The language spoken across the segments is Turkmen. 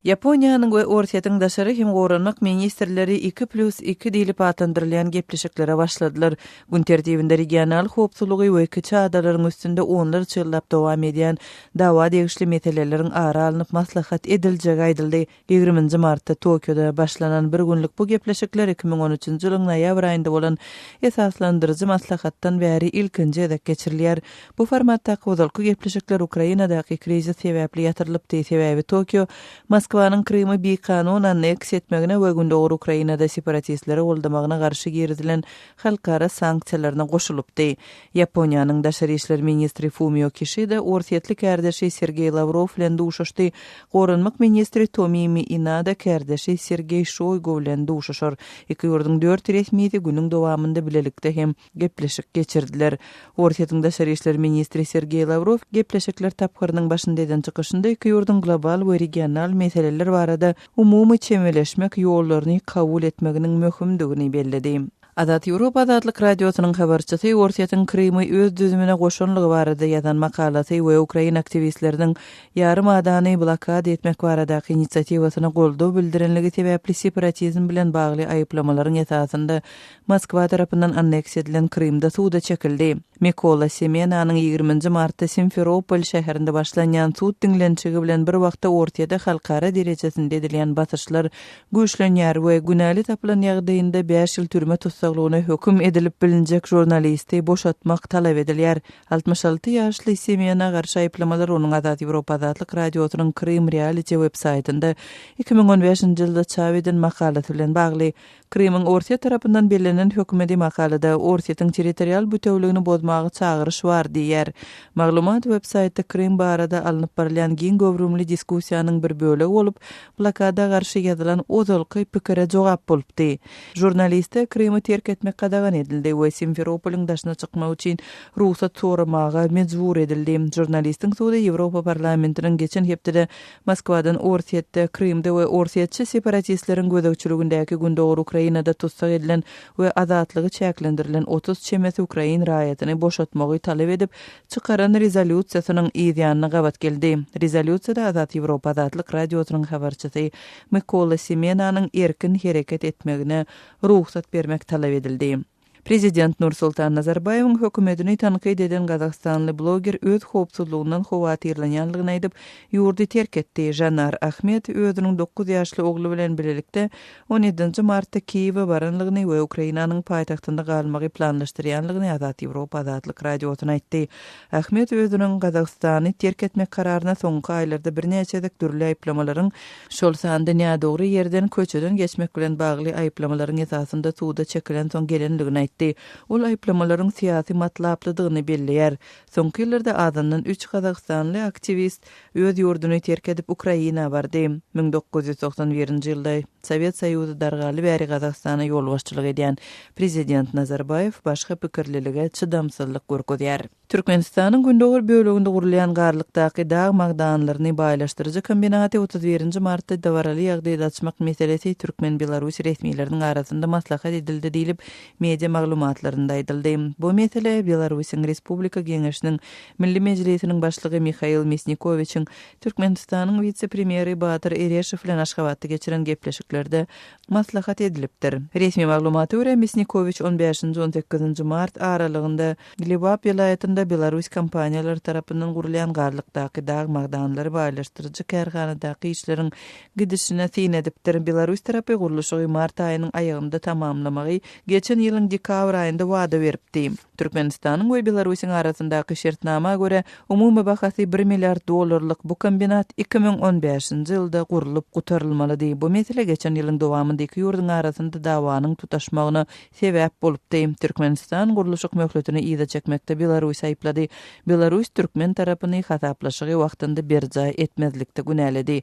Ýaponiýanyň we Orsýetiň daşary hem goranmak ministrleri iki plýus iki diýlip atlandyrylýan gepleşiklere başladylar. Gün tertibinde regional howpsuzlygy we kiçi adalaryň üstünde onlarça ýyllap dowam edýän dawa degişli meseleleriň ara alnyp maslahat ediljegi aýdyldy. Ýigriminji martda Tokioda başlanan bir günlük bu gepleşikler iki müň on üçünji ýylyň noýabr aýynda bolan esaslandyryjy maslahatdan bäri ilkinji gezek geçirilýär. Bu formatdaky ozalky gepleşikler Ukrainadaky krizis sebäpli ýatyrylypdy, sebäbi Tokio Moskwanyň Krymy bikanun anneks etmegine we Gündogar Ukrainada separatistleri goldamagyna garşy girizilen halkara sanksiýalaryna goşulypdy. Ýaponiýanyň daşary işler ministri Fumio Kişida orsýetli kärdeşi Sergeý Lawrow bilen duşuşdy, goranmak ministri Tomimi Inada kärdeşi Sergeý Şoýgu bilen duşuşar. Iki ýurduň dört resmisi günüň dowamynda bilelikde hem gepleşik geçirdiler. Orsýetiň daşary işler ministri Sergeý Lawrow gepleşikler tapgyrynyň başynda eden çykyşynda iki ýurduň global we regional meseleler barada umumy çemeleşmek ýollaryny kabul etmeginiň möhümdigini belledi. Azat Ýewropa Azatlyk Radiosynyň habarçysy Orsýetiň Krymy öz düzümine goşanlygy barada ýazan makalasy we ukrain aktiwistleriniň ýarym adany blokada etmek baradaky inisiatiwasyna goldaw bildirenligi sebäpli separatizm bilen bagly aýyplamalaryň esasynda Moskwa tarapyndan anneks edilen Krymda suda çekildi. Mykola Semenanyň ýigriminji martda Simferopol şäherinde başlanýan sud diňlenişigi bilen bir wagtda Orsýede halkara derejesinde edilýän basyşlar güýçlenýär we günäli tapylan ýagdaýynda bäş ýyl türme tussaglygyna höküm edilip bilinjek žurnalisti boşatmak talap edilýär. Altmyş alty ýaşly Semena garşy aýyplamalar onuň Azat Ýewropa Azatlyk Radiosynyň Krym Reality websaýtynda iki müň on bäşinji ýylda çap eden makalasy bilen bagly. Krymyň Orsýet tarapyndan bellenen hökümedi makalada Orsýetiň territorial bütewligini bozmaga çagyryş bar diýýär. Maglumat websaýtda Krym barada alnyp barylýan giň göwrümli diskussiýanyň bir bölegi bolup, blokada garşy ýazylan ozalky pikire jogap bolupdy. Žurnaliste Krymy terk etmek gadagan edildi we Simferopoliň daşyna çykmak üçin rugsat soramaga mejbur edildi. Žurnalistiň sudy Ýewropa parlamentiniň geçen hepdede Moskwadan Orsýetde, Krymda we orsýetçi separatistleriň gözegçiligindäki gündogar Ukrainada tussag edilen we azatlygy çäklendirilen otuz çemesi ukrain raýatyny boşatmagy talap edip çykaran rezolýusiýasynyň yz ýanyna gabat geldi. Rezolýusiýada Azat Ýewropa azatlyk radiosynyň habarçysy Mykola Semenanyň erkin hereket etmegine rugsat bermek talap edildi. Prezident Nursultan Nazarbaýewiň hökümetini tankyt eden gazagystanly bloger öz howpsuzlygyndan howatyrlanýandygyny aýdyp, ýurdy terk etdi. Žanar Ahmed özüniň dokuz ýaşly ogly bilen bilelikde on ýedinji martda Kiýewe baranlygyny we Ukrainanyň paýtagtynda galmagy planlaşdyrýanlygyny Azat Ýewropa Azatlyk Radiosyna aýtdy. Ahmed özüniň Gazagystany terk etmek kararyna soňky aýlarda birnäçe gezek dürli aýyplamalaryň, şol sanda nädogry ýerden köçeden geçmek bilen bagly aýyplamalaryň esasynda suda çekilensoň gelendigini aýtdy. Ol aýyplamalaryň syýasy matlaplydygyny belleýär. Soňky ýyllarda azyndan üç gazagystanly aktiwist Öz ýurduny terk edip Ukraina bardy. Müň dokuz ýüz togsan birinji ýylda Sowet Soýuzy dargaly bäri Gazagystana ýolbaşçylyk edýän Prezident Nazarbaýew başga pikirlilige çydamsyzlyk görkezýär. Türkmenistanyň gündogar böleginde gurulýan Garlykdaky dag magdanlaryny baýlaşdyryjy kombinaty otuz birinji martda dabaraly ýagdaýda açmak meselesi türkmen-belarus resmileriniň arasynda maslahat edildi diýlip, media maglumatlarynda aýdyldy. Bu mesele Belarusyň Respublika Geňeşiniň Milli Mejlisiniň Başlygy Mihail Misnikowiçiň Türkmenistanyň wise-premýeri Batyr Ereşow bilen Aşgabatda geçiren gepleşiklerde maslahat edilipdir. Resmi maglumata görä, Misnikowiç on bäşinji, on sekizinji mart aralygynda Lebap welaýatynda belaruss kompaniýalary tarapyndan gurulýan Garlykdaky dag magdanlary baýlaşdyryjy kärhanadaky işleriň gidişine syn edipdir. Belaruss tarapy gurluşygy mart aýynyň aýagynda tamamlamagy geçen ýylyň dekabr aýynda wada beripdi. Türkmenistanyň we Belarusyň arasyndaky şertnama görä, umumy bahasy bir milliard dollarlyk bu kombinat iki müň on bäşinji ýylda gurlup gutarylmalydy. Bu mesele geçen ýylyň dowamynda iki ýurduň arasynda dawanyň tutaşmagyna sebäp bolupdy. Türkmenistan gurluşyk möhletini yza çekmekde Belarusy aýyplady. Belarus türkmen tarapyny hasaplaşygy wagtynda berjaý etmezlikde günäledi.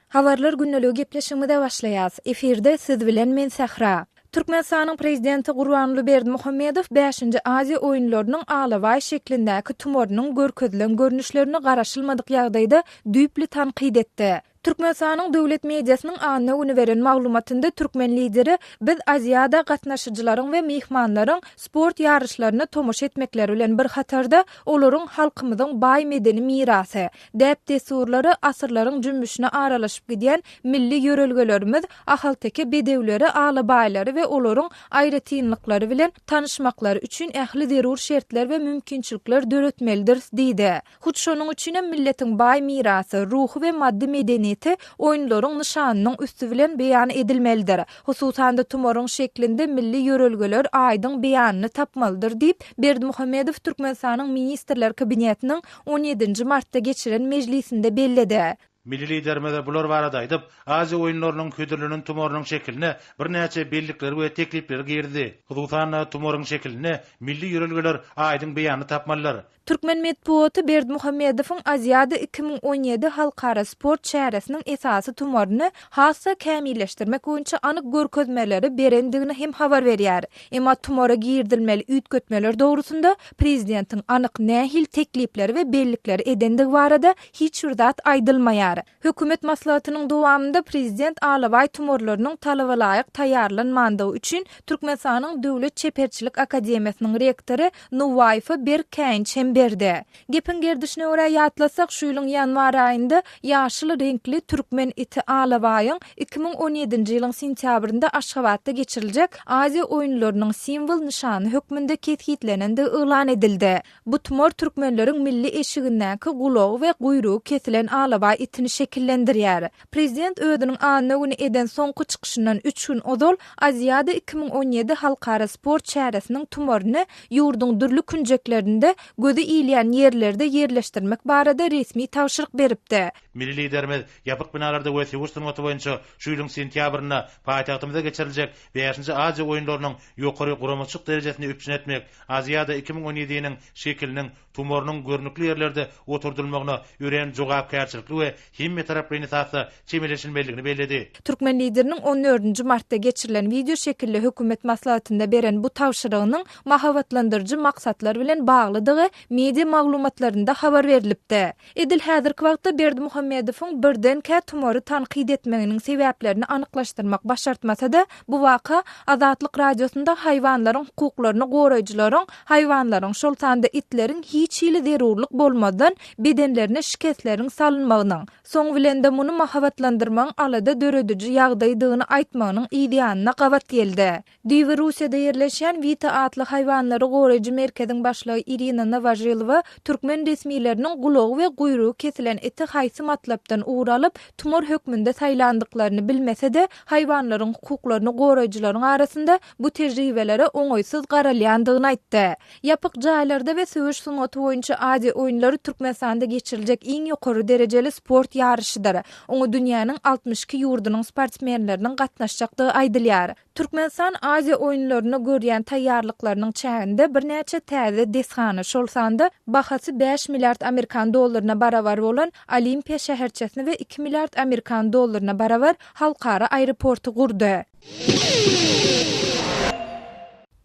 Habarlar gündeliği gepleşigimize başlaýas. Efirde siz bilen men Sähra. Türkmenistanyň Prezidenti Gurbanguly Berdimuhamedow bäşinji Aziýa oýunlarynyň alabaý şeklindäki tumorynyň görkezilen görnüşlerini garaşylmadyk ýagdaýda düýpli tankyt etdi. Türkmenistanyň döwlet mediasynyň anna güni beren maglumatynda türkmen lideri Biz Aziada gatnaşyjylaryň we myhmanlaryň sport ýaryşlaryna tomaşa etmekleri bilen bir hatarda olaryň halkymyzyň baý medeni mirasy, Däp-dessurlary asyrlaryň jümmüşine aralaşyp gidýän milli ýörelgelerimiz ahalteke bedewleri, alabaýlary we olaryň aýratynlyklary bilen tanyşmaklary üçin ähli zerur şertler we mümkinçilikler döretmelidiris diýdi. Hut şonuň üçin hem milletiň baý mirasy, ruhy we maddy medeniýeti oýunlaryň nyşanynyň üsti bilen beýan edilmelidir, hususan-da tumaryň şeklinde milli ýörelgeler aýdyň beýanyny tapmalydyr diýip, Berdimuhamedow Türkmenistanyň Ministrler Kabinetiniň on ýedinji martda geçiren mejlisinde belledi. Milli Liderimiz bular barada aýdyp, Aziýa oýunlarynyň hödürlenen tumarynyň şekiline birnäçe bellikleri we teklipleri girdi. Hususan-da, tumaryň şekilinde milli ýörelgeler aýdyň beýanyny tapmalydyr. Türkmen metbugaty Berdimuhamedowyň Aziada iki müň on ýedi halkara sport çäresiniň esasy tumaryny has-da kämilleşdirmek boýunça anyk görkezmeleri berendigini hem habar berýär. Emma tumara girizilmeli üýtgetmeler dogrusynda prezidentiň anyk nähili teklipleri we bellikleri edendigi barada hiç bir zat aýdylmaýar. Hökümet maslahatynyň dowamynda prezident alabaý tumarlarynyň talabalaýyk taýýarlanmandygy üçin Türkmenistanyň Döwlet çeperçilik akademiýasynyň rektory Nuwaýewe berk käýinç hem berdi. Gepiň gerdişine görä ýatlasak, şu ýylyň ýanwar aýynda ýaşyl reňkli türkmen iti alabaýyň iki müň on ýedinji ýylyň sentýabrynda Aşgabatda geçiriljek Aziýa oýunlarynyň simwol nyşany hökmünde kesgitlenendigi yglan edildi. Bu tumar türkmenleriň milli eşigindäki gulagy we guýrugy kesilen alabaý itini şekillendirýär. Prezident özüniň anna güni eden soňky çykyşyndan üç gün ozal Aziada iki müň on ýedi halkara sport çäresiniň tumaryny ýurduň dürli künjeklerinde gözi ilýän ýerlerde ýerleşdirmek barada resmi tabşyryk beripdi. Milli Liderimiz ýapyk binalarda we söweş sungaty boýunça şu ýylyň sentýabrynda paýtagtymyzda geçiriljek bäşinji Aziýa oýunlarynyň ýokary guramaçylyk derejesini üpjün etmek, Aziada iki müň on ýedi-niň şekiliniň Tumorynyň görnükli ýerlerde oturdylmagyna örän jogapkärçilikli we hemmetaraplaýyn esasda çemeleşilmelidigini belledi. Türkmen Lideriniň on dördünji martda geçirilen wideo şekilli hökümet maslahatynda beren bu tabşyrygynyň mahabatlandyryjy maksatlar bilen baglydygy media maglumatlarynda habar berlipdi. Edil häzirki wagtda Berdimuhamedowyň birdenkä tumary tankyt etmeginiň sebäplerini anyklaşdyrmak başartmasa-da, bu waka Azatlyk Radiosynda haýwanlaryň hukuklaryny goraýjylaryň haýwanlaryň, şol sanda itleriň hiç hili zerurlyk bolmazdan bedenlerine şikesleriň salynmagynyň, soň bilen-de muny mahabatlandyrmagyň alada dörediji ýagdaýdygyny aýtmagynyň yzýanyna gabat geldi. Düýbi Russiýada ýerleşýän Wita atly haýwanlary goraýjy merkeziň başlygy Irina Nowožilowa türkmen resmileriniň gulagy we guýrugy kesilen iti haýsy matlapdan ugur alyp, tumar hökmünde saýlandyklaryny bilmese-de, haýwanlaryň hukuklaryny goraýjylaryň arasynda bu tejribelere oňaýsyz garalýandygyny aýtdy. Ýapyk jaýlarda we söweş sungaty boýunça Aziýa oýunlary Türkmenistanda geçiriljek iň ýokary derejeli sport ýaryşydyr. Oňa dünýäniň altmyş iki ýurdunyň sportsmenleriniň gatnaşjakdygy aýdylýar. Türkmenistan Aziýa oýunlaryna görýän taýýarlyklarynyň çäginde birnäçe täze desgany, şol sanda bahasy bäş milliard amerikan dollaryna barabar bolan Olimpiýa şäherçesini we iki milliard amerikan dollaryna barabar halkara aeroporty gurdy.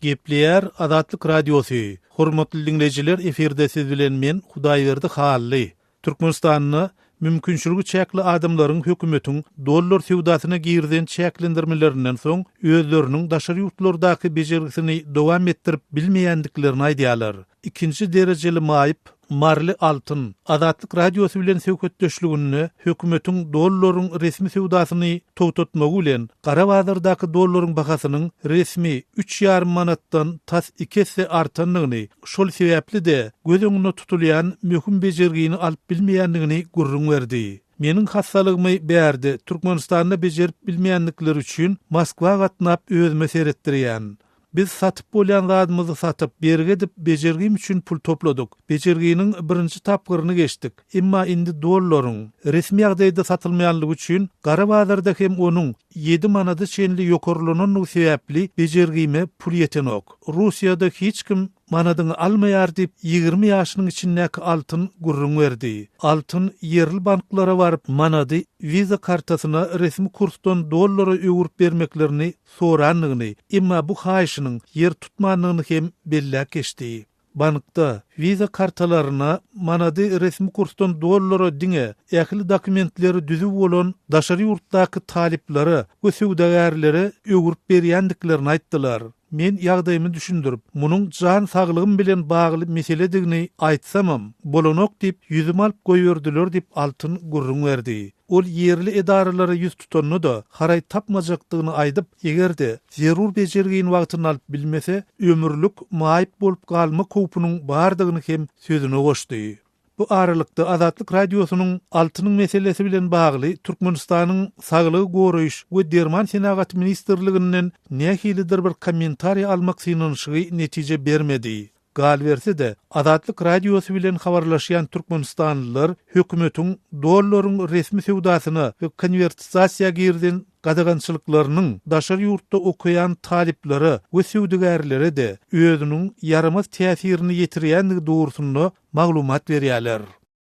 Gepleýär Azatlyk Radiosy, Hormatly diňleýjiler efirde siz bilen men Hudaýberdi Hally. Türkmenistanda mümkinçiligi çäkli adamlaryň hökümetiň dollar söwdasyna girizen çäklendirmelerinden soň özleriniň daşary ýurtlardaky bejergisini dowam etdirip bilmeýändiklerini aýdýarlar. ikinji derejeli maýyp Marly Altyn Azatlyk Radiosy bilen söhbetdeşliginde hökümetiň dollaryň resmi söwdasyny togtatmagy bilen gara bazardaky dollaryň bahasynyň resmi üç ýarym manatdan tas iki esse artandygyny, şol sebäpli-de göz öňünde tutulýan möhüm bejergini alyp bilmeýändigini gürrüň berdi. Meniň hassalygymy bärde Türkmenistanda bejerip bilmeýändikleri üçin Moskwa gatnap özüme seretdirýän. Biz satyp bolýan zadymyzy satyp, bergi edip, bejergim üçin pul topladyk. Bejerginiň birinji tapgyryny geçdik. Emma indi dollaryň, resmi ýagdaýda satylmaýanlygy üçin, gara bazarda hem onuň ýedi manada çenli ýokarlananlygy sebäpli bejergime pul ýetenok. Russiýada hiç kim manadyňy almaýar diýip, ýigrimi ýaşynyň içindäki Altyn gürrüň berdi. Altyn ýerli banklara baryp, manady Visa kartasyna resmi kursdan dollara öwürip bermeklerini sorandygyny, emma bu haýyşynyň ýer tutmandygyny hem belläp geçdi. Bankda Visa kartalaryna manady resmi kursdan dollara diňe ähli dokumentleri düzüw bolan daşary ýurtdaky talyplara we söwdagärlere öwrüp berýändiklerini aýtdylar. Men ýagdaýymy düşündirip, munuň jan saglygym bilen bagly meseledigini aýtsamam, bolanok diýip, ýüzümi alyp goýberdiler diýip, Altyn gürrüň berdi. Ol ýerli edaralara ýüz tutanda-da, haraý tapmajakdygyny aýdyp, eger-de, zerur bejergini wagtynda alyp bilmese, ömürlik maýyp bolup galmak howpunyň bardygyny hem sözüne goşdy. Bu aralykda, Azatlyk Radiosynyň altynyň meselesi bilen bagly Türkmenistanyň Saglygy goraýyş we derman senagaty ministrliginden nähilidir bir kommentariý almak synanyşygy netije bermedi. Galyberse-de, Azatlyk Radiosy bilen habarlaşýan türkmenistanlylar hökümetiň dollaryň resmi söwdasyna we konwertizasiýa girden gadagançylyklarynyň daşary ýurtda okaýan talyplara we söwdagärlere-de özüniň ýaramaz täsirini ýetirýändigi dogrusynda maglumat berýärler.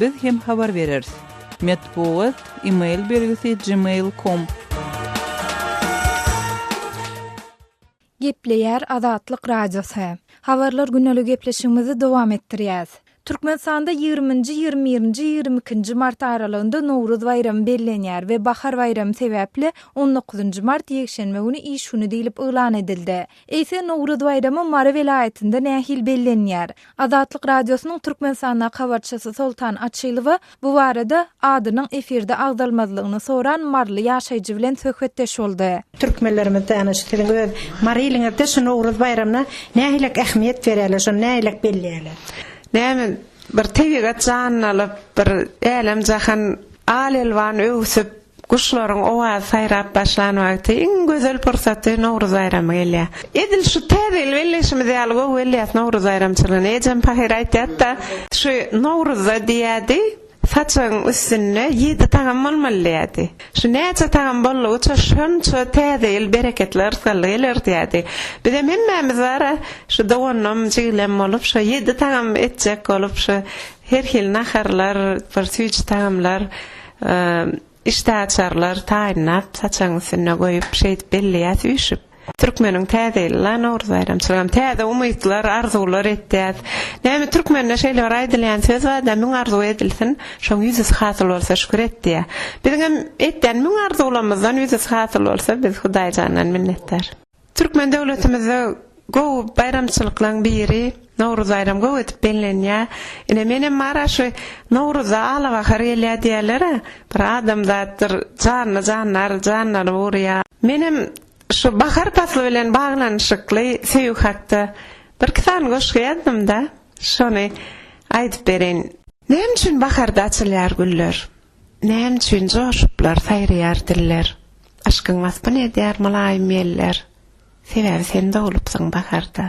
Biz hem habar bereris. Metbugat, email belgisi, gmail com. Gepleýär Azatlyk Radiosy. Habarlar güneli gepleşigimizi dowam etdirýäs. Türkmenistanda ýigriminji, ýigrimibirinji, ýigriikinji mart aralygynda Nowruz baýramy bellenýär we Bahar baýramy sebäpli on dokuzynjy mart ýekşenbe güni iş güni diýlip yglan edildi. Eýse, Nowruz baýramy Mary welaýatynda nähili bellenýär? Azatlyk Radiosynyň Türkmenistandaky habarçysy Soltan Açylowa bu barada adynyň efirde agzalmazlygyny soran maryly ýaşaýjy bilen söhbetdeş boldy. Türkmenlerimiz dana şu siziň öz Mary iliňizde şu Nowruz baýramyna nähilek ähmiýet berýärler, şony nähilek belleýärler? Näme bir tebigat janlalyp, bir älem-jahan al-elwan öwsüp, Guşlaryň owazy saýrap başlan wagty iň gözel pursaty Nowruz baýramy gelýär. Edil şu täze ýyl belleşimiz ýaly gowy gelýär Nowruz baýramçylygyna. Ejem pahyr aýtýardy-da. Şu Nowruzda diýýärdi, Saçagyň üstünde ýedi tagam bolmaly diýýärdi. Şu näçe tagam boldugyça şonça täze ýyl bereketli yrsgally geler diýýärdi. Bizem hemmämiz bar-a, şu doganam, jigilem bolup şo ýedi tagam etjek bolup şu her hili naharlar, bir süýji tagamlar Işdäaçarlar taýynlap, saçagyň üstünde goýup, şeýdip belleýäs üýşüp. Türkmeniň Täze ýyly la, Nowruz baýramçylygam. Täze umytlar, arzuwlar etýäs. Näme, türkmende şeýle bir aýdylýan söz bar-da, Müň arzuw edilsin, şoň ýüzüsi hasyl bolsa şükür et diýýär. Biziňem etýän müň arzuwlarymyzdan ýüzüsi hasyl bolsa, biz Hudaýjandan minnetdar. Türkmen döwletimizde gowy baýramçylyklaň biri Nowruz baýram gowy edip bellenýä. Ine menem bara şu Nowruzda ala bahar gelýä diýälera bir adamzatdyr janly janlar janlanyp urýa. Menem şu bahar pasly bilen baglanyşykly söýgi hakda birki sany goşgy ýazdymda şony aýdyp bereýin. Näme üçin baharda açylýar güller? Näme üçin joşuplar saýraýar diller, Yşkyň waspyny edýär mylaýym ýeller, Sebäbi sen doglupsyň baharda.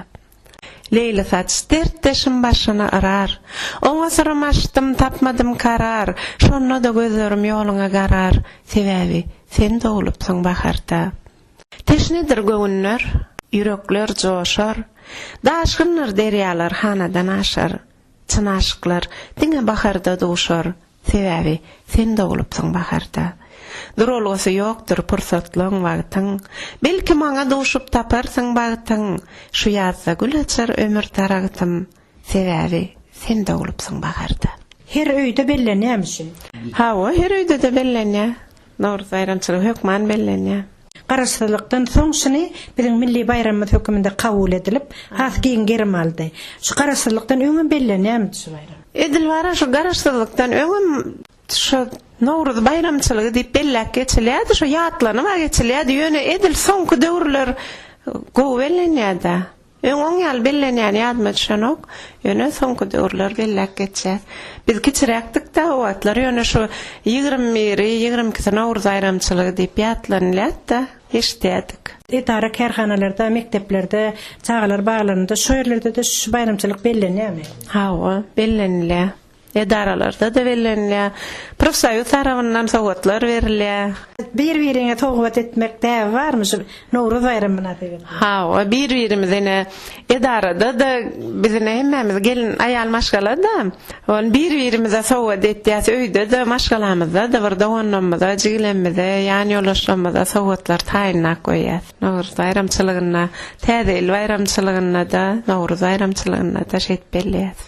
Leýli saç, dertdeşim başyny yrar, Oňa syrym açdym, tapmadym karar, Şonda-da gözlerim ýoluňa garar, Sebäbi sen doglupsyň baharda. Teşnedir göwünler, ýürekler joşar, Daşgyndyr derýalar hanadan aşar, Çyn aşyklar diňe baharda duşar, Sebäbi sen doglupsyň baharda. Duralgasy ýokdur pursatlyň wagtyň, Belki maňa duşup taparsyň bagtyň, Şu ýazda gül açar ömür daragtym, Sebäbi sen doglupsyň baharda. Her öýde bellenýämişin. Hawa, her öýde-de bellenýär. Nowruz baýramçylygy hökman bellenýär. Garaşsyzlykdan soň şuny biziň milli baýramymyz höküminde kabul edilip, has giň gerim aldy. Şu Garaşsyzlykdan öňem bellenýärmidi şu baýram? Edil bara şu Garaşsyzlykdan öňem şu Nowruz baýramçylygy diýip belläp geçilýärdi, şu ýatlanyba geçilýärdi, ýöne edil soňky döwürler gowy bellenýär-dä. Öň oň ýaly bellenýäni ýadyma düşenok, ýöne soňky döwürler belläp geçýär. Biz kiçiräkdik-de, o wagtlar ýöne şu ýigrimi biri, ýigrimi ikisi Nowruz aýramçylygy diýip ýatlanylýat-da, eşidýärdik. Edara-kärhanalarda, mekdeplerde, çagalar baglarynda, şu ýerlerde-de şu baýramçylyk bellenýärmi? Hawa, bellenilýär. edaralarda-da bellenilýär. Profsoýuz tarapyndan sowgatlar berilýär. Bir-biriňe sowgat etmek däbi barmy şu Nowruz baýramy mynasybetli? Hawa, bir-birimize ine, edarada-da biz ine hemmämiz gelin aýal maşgala-da. Ol bir-birimize sowgat etýäs, öýde-de, maşgalamyzda-da bir doganlarymyza, jigilerimize, ýanýoldaşlarymyza sowgatlar taýynlap goýýas. Nowruz baýramçylygynda, Täze ýyl baýramçylygynda-da, Nowruz baýramçylygynda-da şeýdip belleýäs.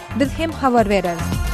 Biz hem habar bereris.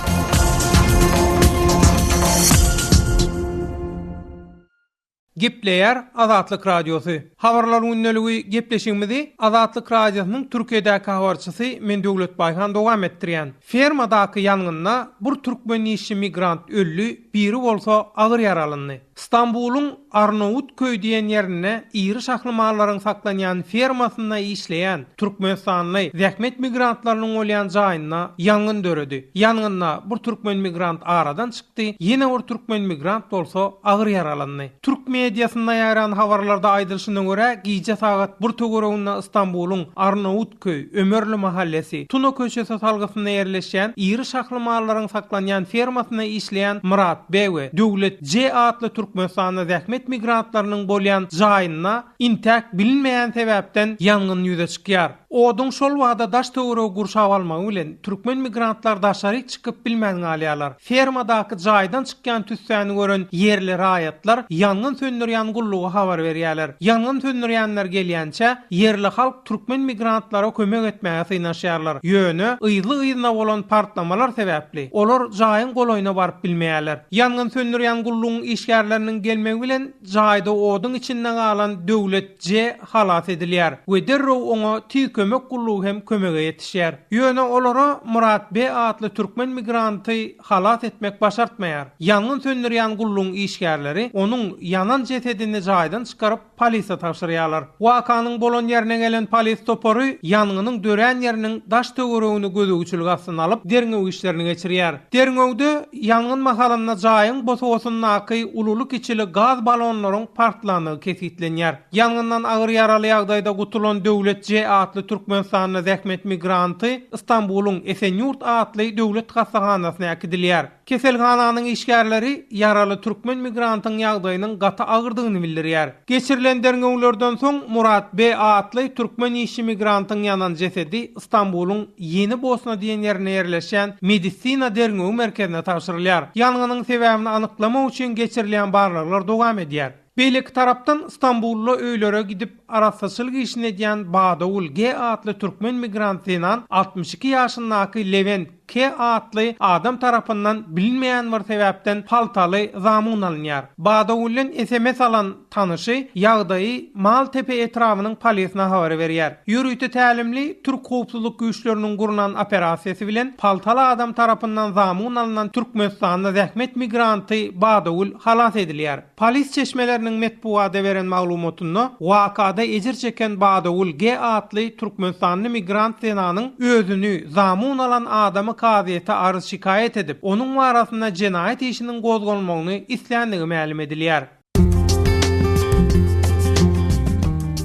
Gepleýär Azatlyk Radiosy. Habarlar gündeligi gepleşigimizi Azatlyk Radiosynyň Türkiýedäki habarçysy men Döwlet Baýhan dowam etdirýän. Fermadaky ýangynda bir türkmen işçi migrant öldi, biri bolsa agyr ýaralandy. Stambulyň Arnawutköý diýen ýerinde iri şahly mallaryň saklanýan fermasynda işleýän türkmenistanly zähmet migrantlarynyň bolýan jaýynda ýangyn döredi. Ýangynda bir türkmen migrant aradan çykdy, ýene bir türkmen migrant bolsa agyr ýaralandy. Türk mediasynda ýaýran habarlarda aýdylyşyna görä, gije sagat bir töwereginde Stambulyň Arnawut. köý, Ömerli mahallesy, Tuna köçesi salgysynda ýerleşýän iri şahly mallaryň saklanýan fermasynda işleýän Myrat B we Döwlet J atly Türkmenistanda zähmet migrantlarynyň bolýan jaýynda intäk bilinmeýän sebäpden ýangyn ýüze çykýar. Oduň şol bada daş-töweregi gurşap almagy bilen, türkmen migrantlar daşaryk çykyp bilmän galýarlar. Fermadaky jaýdan çykýan tüssäni gören ýerli raýatlar ýangyn söndürýän gulluga habar berýärler. Ýangyn söndürýänler gelýänçä, ýerli halk türkmen migrantlara kömek etmäge synanyşýarlar. Ýöne, yzly-yzyna bolan partlamalar sebäpli, olar jaýyň golaýyna baryp bilmeýärler. Ýangyn söndürýän gullugyň işgärleriniň gelmegi bilen, Jaýda oduň içinde galan Döwlet J. halas edilýär we derrew oňa Tiz kömek gullugy hem kömege ýetişýär. Ýöne olara Murat B. atly türkmen migranty halas etmek başartmaýar. Ýangyn söndürýän gullugyň işgärleri onuň ýanan jesedini jaýdan çykaryp, polise tabşyrýarlar. Wakanyň bolan ýerine gelen polis topary ýangynyň dörän ýeriniň daş-töweregini gözegçilik astyna alyp, derňew işlerini geçirýär. Derňewde. Ýangyn mahalynda jaýyň bosagasyndaky ululy-kiçili gaz balonlaryň partlandygy kesgitlenýär. Ýangyndan agyr ýaraly ýagdaýda gutulan Döwlet J atly türkmenistanly zähmet migranty Stambuluň Esenyurt atly döwlet hassahanasyna äkidilýär. Keselhananyň işgärleri ýaraly türkmen migrantyň ýagdaýynyň gaty agyrdygyny bildirýär. Geçirilen derňewlerden soň Murat B atly türkmen işçi migrantyň ýanan jesedi Stambulyň Ýeni Bosna diýen ýerinde ýerleşýän Medisina derňewi merkezine tabşyrylýar. Ýangynyň sebäbini anyklamak üçin geçirilýän barlaglar dowam edýär. Beýleki tarapdan, Stambulda öýlere gidip, arassaçylyk işini edýän Badawul G atly türkmen migrant zenan altmyş iki ýaşyndaky Lewent, K. atly adam tarapyndan bilinmeýän bir sebäpden paltaly zamun alynýar. Badawullen sms alan tanyşy ýagdaýy Maltepe etrabynyň polisyna habar berýär. Ýörite tälimli türk howpsuzlyk güýçleriniň gurnan operasiýasy bilen paltaly adam tarapyndan zamun alynan türkmenistanly zähmet migranty Badawul halas edilýär. Polis çeşmeleriniň metbugada beren maglumatynda, wakada ejir çeken Badagül G. atly türkmenistanly migrant zenanyň özüni zamun alan adamy kazyýete arz-şikaýat edip, onuň barasynda jenaýat işiniň gozgalmagyny isländigi mälim edilýär.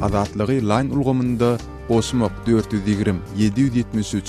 Azatlygy line ulgamynda Goşmak dört ýüz ýigrimi, ýedi ýüz ýetmiş üç.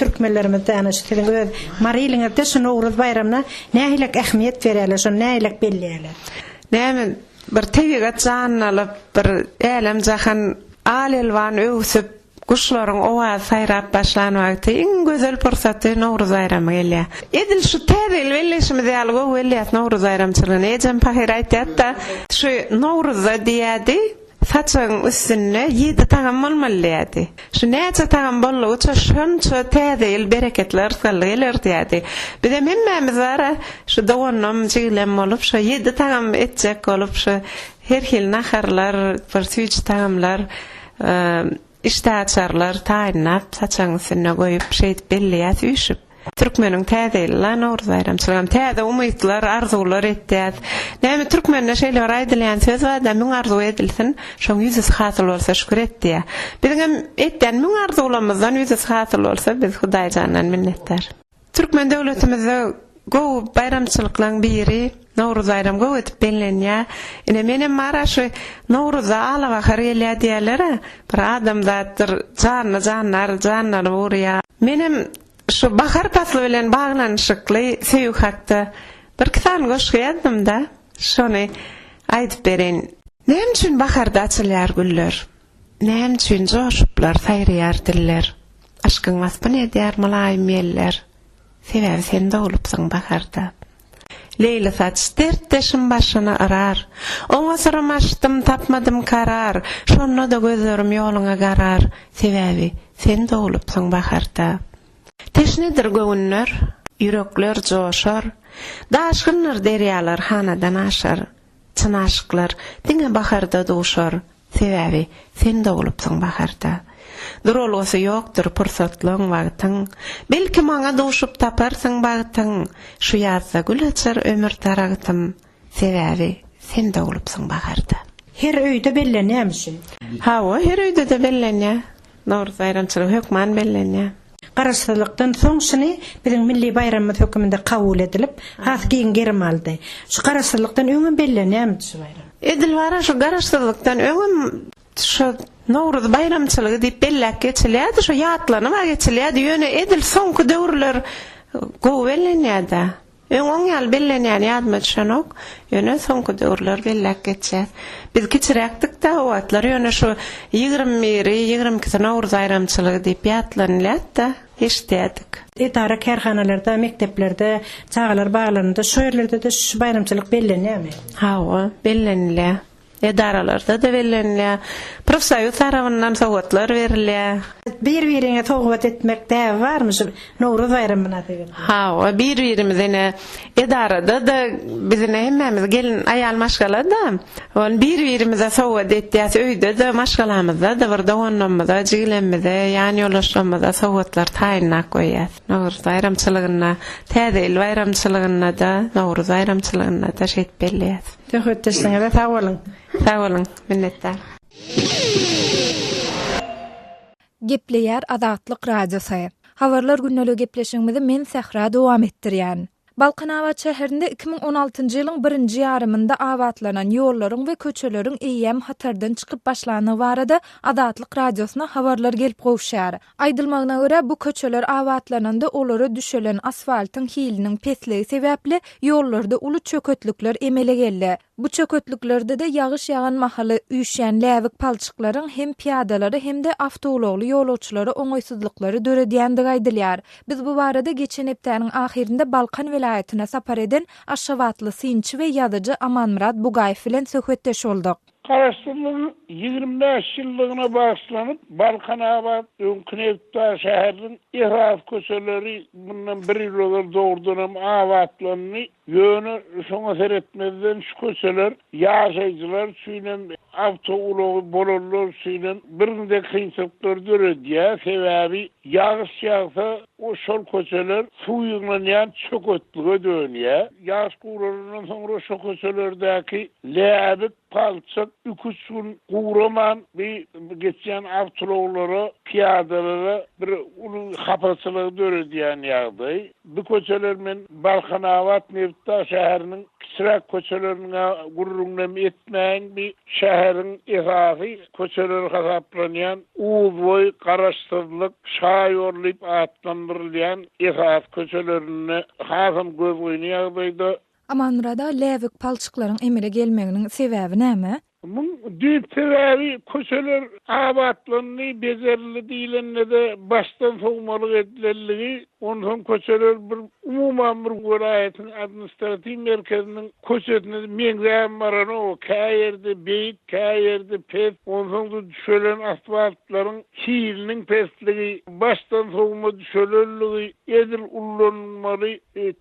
Türkmenlerimiz däne şu siziň öz Mary iliňizde şu Nowruz baýramyna nähilek ähmiýet berýärler, şony nähilek belleýärler? Näme bir tebigat janlalyp, bir älem-jahan al-elwan öwsüp, guşlaryň owazy saýrap başlan wagty iň gözel pursaty Nowruz baýramy gelýär. Edil şu täzegil belleýşimiz ýaly gowy belleýäs Nowruz baýramçylygyny. Ejem pahyr aýtýardy-da, şu Nowruzda diýýärdi, Saçagyň üstünde ýedi tagam bolmaly diýýärdi. Şu näçe tagam boldugyça şonça täze ýyl bereketli yrsgally geler diýýärdi. Bizem hemmämiz bar-a, şu doganym, jigilem bolup, şo ýedi tagam etjek bolup, şo her hili naharlar, bir süýji tagamlar, Işdä açarlar taýynlap, saçagyň üstünde goýup, şeýdip belleýäs üýşüp. Türkmeniň Täze ýyly la, Nowruz baýramçylygam. Täze umytlar, arzuwlar etýäs. Näme, türkmende şeýle bir aýdylýan söz bar-da, Müň arzuw edilsin, şoň ýüzüsi hasyl bolsa şükür et diýýär. Biziňem etýän müň arzuwlarymyzdan ýüzüsi hasyl bolsa, biz Hudaýjandan minnetdar. Türkmen döwletimizde gowy baýramçylyklaň biri Nowruz baýram gowy edip bellenýä. Ine menem bara şu Nowruzda ala bahar gelýä diýälera bir adamzatdyr janly janlar janlanyp urýa. Menem şu bahar pasly bilen baglanyşykly söýgi hakda birki sany goşgy ýazdymda şony aýdyp bereýin. Näme üçin baharda açylýar güller? Näme üçin joşuplar, saýraýar diller? Yşkyň waspyny edýär mylaýym ýeller. Sebäbi sen doglupsyň baharda. Leýli saç, dertdeşim başyny yrar. Oňa syrym açdym, tapmadym karar. Şonda-da gözlerim ýoluňa garar. Sebäbi sen doglupsyň baharda. Teşnedir göwünler, ýürekler joşar. Daşgyndyr derýalar hanadan aşar. Çyn aşyklar diňe baharda duşar, Sebäbi sen doglupsyň baharda. Duralgasy ýokdur pursatlyň, wagtyň, Belki maňa duşup taparsyň bagtyň, Şu ýazda gül açar ömür daragtym, Sebäbi sen doglupsyň baharda. Her öýde bellenýämi şu? Hawa, her öýde-de bellenýär. Nowruz baýramçylygy hökman bellenýär. Garaşsyzlykdan soň şuny biziň milli baýramymyz höküminde kabul edilip, has giň gerim aldy. Şu Garaşsyzlykdan öňem bellenýärmidi şu baýram? Edil bar-a, şu Garaşsyzlykdan öňem şu Nowruz baýramçylygy diýip belläp geçilýärdi, şu ýatlanyp-a geçilýärdi, ýöne edil soňky döwürler gowy bellenýär-dä. Öň oň ýaly bellenýäni ýadyma düşenok, ýöne soňky döwürler belläp geçýäs. Biz kiçiräkdik-de, o wagtlar ýöne şu ýigrimi biri, ýigrimi ikisi Nowruz aýramçylygy diýip ýatlanylýat-da, eşidýärdik. Edara-kärhanalarda, mekdeplerde, çagalar baglarynda, şu ýerlerde-de şu baýramçylyk bellenýärmi? Hawa, bellenilýär. edaralarda-da bellenilýär. Profsoýuz tarapyndan sowgatlar berilýär. Bir-biriňe sowgat etmek däbi barmy şu Nowruz baýramy mynasybetli? Hawa, bir-birimize ine edarada-da biz ine hemmämiz gelin aýal maşgala-da. Ol bir-birimize sowgat etýäs, öýde-de, maşgalamyzda-da bir doganlarymyza, jigilerimize, ýan ýoldaşlarymyza sowgatlar taýynlap goýýas. Nowruz baýramçylygynda, Täze ýyl baýramçylygynda-da, Nowruz baýramçylygynda-da şeýdip belleýäs. Söhbetdeşligiňize sag boluň. Sag boluň. Minnetdar. Gepleýär Azatlyk Radiosy. Habarlar gündeli gepleşigimizi men Sähra dowam etdirýän. Balkanabat şäherinde iki müň on altynjy ýylyň birinji ýarymynda abatlanan ýollaryň we köçeleriň eýýäm hatardan çykyp başlandygy barada Azatlyk Radiosyna habarlar gelip gowuşýar. Aýdylmagyna görä, bu köçeler abatlananda olara düşelen asfaltyň hiliniň pesligi sebäpli ýollarda uly çöketlikler emele geldi. Bu çöketliklerde-de ýagyş ýagan mahaly üýşýän läbik palçyklaryň hem pyýadalara hem-de awtoulagly ýolagçylara oňaýsyzlyklary döredýändigi aýdylýar. Biz bu barada geçen hepdäniň ahyrynda Balkan welaýatyna sapar eden aşgabatly synçy we ýazyjy Amanmyrat Bugaýew bilen söhbetdeş bolduk. Garaşsyzlygyň ýigrimi bäş ýyllygyna bagyşlanyp, Balkanabat, öňki nebitbar şäheriniň esasy köçeleri mundan bir ýyl ozal dogrudan hem abatlandy. Ýöne şoňa seretmezden şu köçeler ýaşaýjylar üçin hem, awtoulagy bolanlar üçin hem birgiden kynçylyklary döredýär. Sebäbi ýagyş ýagsa, We şol köçeler suw ýygnanýan çöketlige dönýär. Ýagyş guralandan soňra şo köçelerdäki läbik, palçyk iki-üç gün guraman bi geçýän awtoulaglara, pyýadalara bir uly hapaçylygy döredýän ýagdaý. Bi köçeler men Balkanabat Nebitdag şäheriniň kiçiräk köçeleriniň-ä gürrüňinem etmäýin, bi şäheriň esasy Köçeleri hasaplanýan Uzboý, Garaşsyzlyk, Şaýol diýip atlandyrylýan esasy köçelerinde hasam gözgyny ýagdaýda. Amanmyrada läbik palçyklaryň emele gelmeginiň sebäbi näme? Muň düýp sebäbi köçeler abatlandy, bejerildi diýlende-de başdan sowmalyk edilenligi Onsoň köçeler bir umuman bir welaýatyň administratiw merkeziniň köçesine meňzäp baranok. Kä ýerde beýik, kä ýerde pes. Onsoň-da düşelen asfaltlaryň hiliniň pesligi, başdan sowma düşelenligi, edil ullanylmaly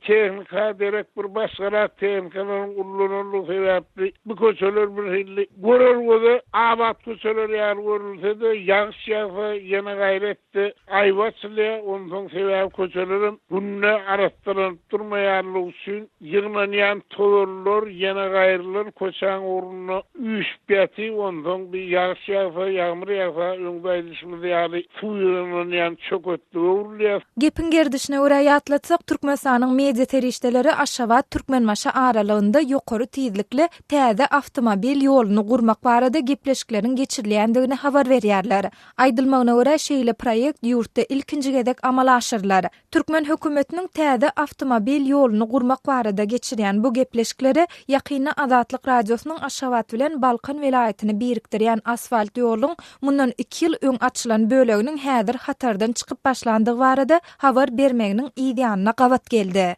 tehnika derek bir başgarak tehnikalaryň ullananlygy sebäpli bu köçeler bir hilli görelgede abat köçeler ýaly görülse-de, ýagyş ýagsa ýene gaýrat. Hepde aýby açylýar, onsoň sebäbi köçelerem günde arassalanyp durmaýanlygy üçin ýygnanýan tozanlar, ýenegaýrylar köçäň ugrunda üýşüp ýatyp, onsoň bir ýagyş ýagsa, ýagmyr ýagsa, öňde aýdyşymyz ýaly suw ýygnanýan çöketlige öwrülýär. Gepiň gerdişine görä ýatlatsak, Türkmenistanyň media serişdeleri Aşgabat, Türkmenbaşy aralygynda ýokary tizlikli täze awtomobil ýoluny gurmak barada gepleşikleriň geçirilýändigini habar berýärler. Aýdylmagyna görä, şeýle proýekt ýurtda ilkinji gezek amala aşyrylar. Türkmen hökümetiniň täze awtomobil ýoluny gurmak barada geçirýän bu gepleşikleri ýakynda Azatlyk Radiosynyň Aşgabat bilen Balkan welaýatyny birikdirýän asfalt ýoluň mundan iki ýyl öň açylan böleginiň häzir hatardan çykyp başlandygy barada habar bermeginiň yzýanyna gabat geldi.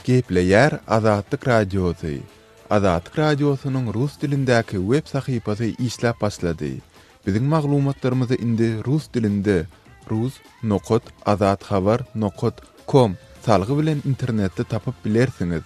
Gepleýär Azatlyk Radiosy, Azatlyk Radiosynyň rus dilindäki web sahypasy işläp başlady. Biziň maglumatlarymyzy indi rus dilinde rus nokat azat habar nokat kom salgy bilen internetde tapyp bilersiňiz.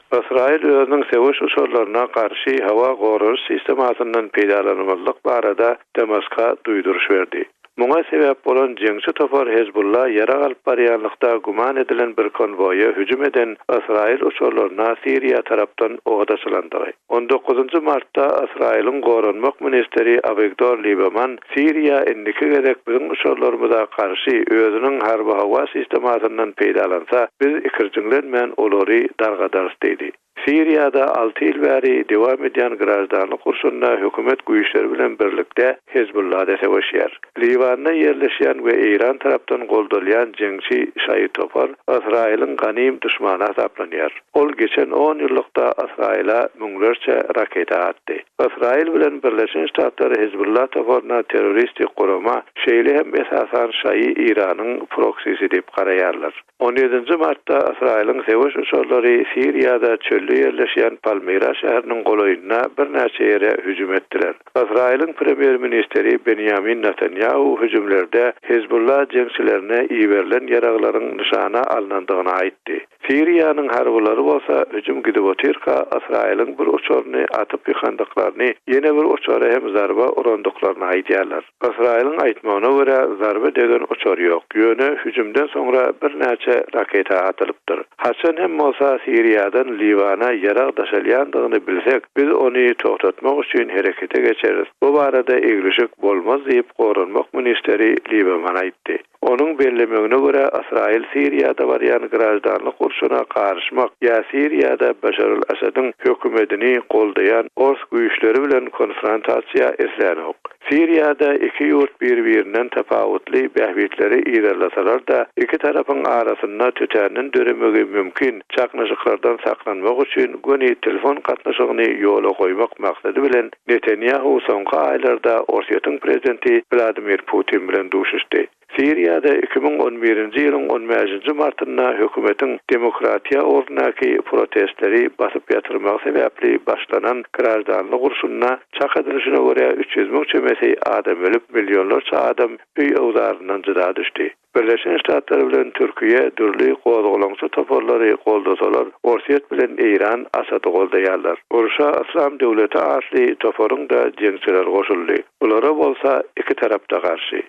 Ysraýyl özüniň söweş uçarlaryna garşy howa goralyş sistemasyndan peýdalanmazlyk barada Damaska duýduryş berdi. Muňa sebäp bolan jeňçi topar Hezbulla ýarag alyp barýanlykda güman edilen bir konwoýa hüjüm eden ysraýyl uçarlaryna Siriýa tarapdan od açylandygy. On dokuzynjy martda Ysraýylyň goranmak ministri Awigdor Libeman Siriýa indiki gezek biziň uçarlarymyza garşy özüniň harby-howa sistemasyndan peýdalansa, biz ikirjiňlenmän olary dargadarys diýdi. Siriýada alty ýyl bäri dowam edýän graždanlyk urşunda hökümet güýçleri bilen birlikde Hezbulla-da söweşýär. Liwanda ýerleşýän we Eýran tarapdan goldalýan jeňçi şaýy topar Ysraýylyň ganym duşmany hasaplanýar. Ol geçen on ýyllykda Ysraýyla müňlerçe raketa atdy. Ysraýyl bilen Birleşen Ştatlar Hezbullah toparyna terroristik gurama, şeýle hem esasan şaýy Iranyň proksisi diýip garaýarlar. On ýedinji martda Ysraýylyň söweş uçarlary Siriýada çölde ýerleşýän Palmyra şäheriniň golaýynda birnäçe ýere hüjüm etdiler. Ysraýylyň premýer-ministri Benýamin Netanýahu hüjümlerde Hezbullah jeňçilerine iberilen ýaraglaryň nyşana alnandygyny aýtdy. Siriýanyň harbylary bolsa hüjüm gidip otyrka, Ysraýylyň bir uçaryny atyp ýykandyklaryny, ýene bir uçara hem zarba urandyklaryny aýdýarlar. Ysraýylyň aýtmagyna görä, zarba degen uçar ýok, ýöne hüjümden soňra birnäçe raketa atylypdyr. Haçan hem bolsa Siriýadan Liwana ýarag daşalýandygyny bilsek, biz ony togtatmak üçin herekete geçeris, bu barada eglişik bolmaz diýip, goranmak ministeri Libeman aýtdy. Onuň bellemegine görä, Ysraýyl Siriýada barýan graždanlyk urşuna garyşmak ýa Siriýada Başar al-Asadyň hökümedini goldaýan ors güýçleri bilen konfrontasiýa islanok. Siriýada iki ýurt bir-birinden tapawutly bähbitleri yzarlasalar-da, iki tarapyň arasynda tötänden döremegi mümkin çaknyşyklardan saklanmak üçin göni telefon gatnaşygyny ýola goýmak maksady bilen Netanýahu soňky aýlarda Orsýetiň prezidenti Wladimir Putin bilen duşuşdy. Siriýada iki müň on birinji ýylyň on bäşinji martynda hökümetiň demokratiýa ugrundaky protestleri basyp ýatyrmagy sebäpli başlanan graždanlyk urşunda, çak edilyşine görä, üç ýüz müň çemesi adam ölüp, millionlarça adam öý-öwzaryndan jyda düşdi. Birleşen Ştatlar bilen Türkiýe dürli gozgalaňçy toparlary goldasalar, Orsýet bilen Eýran Asady goldaýarlar. Urşa Yslam döwleti atly toparyň-da jeňçileri goşuldy. Bulara bolsa iki tarap-da garşy.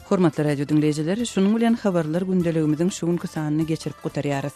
Hormatly radio diňleýjiler, şunuň bilen Habarlar gündeligimiziň şu günki sanyny geçirip gutarýarys.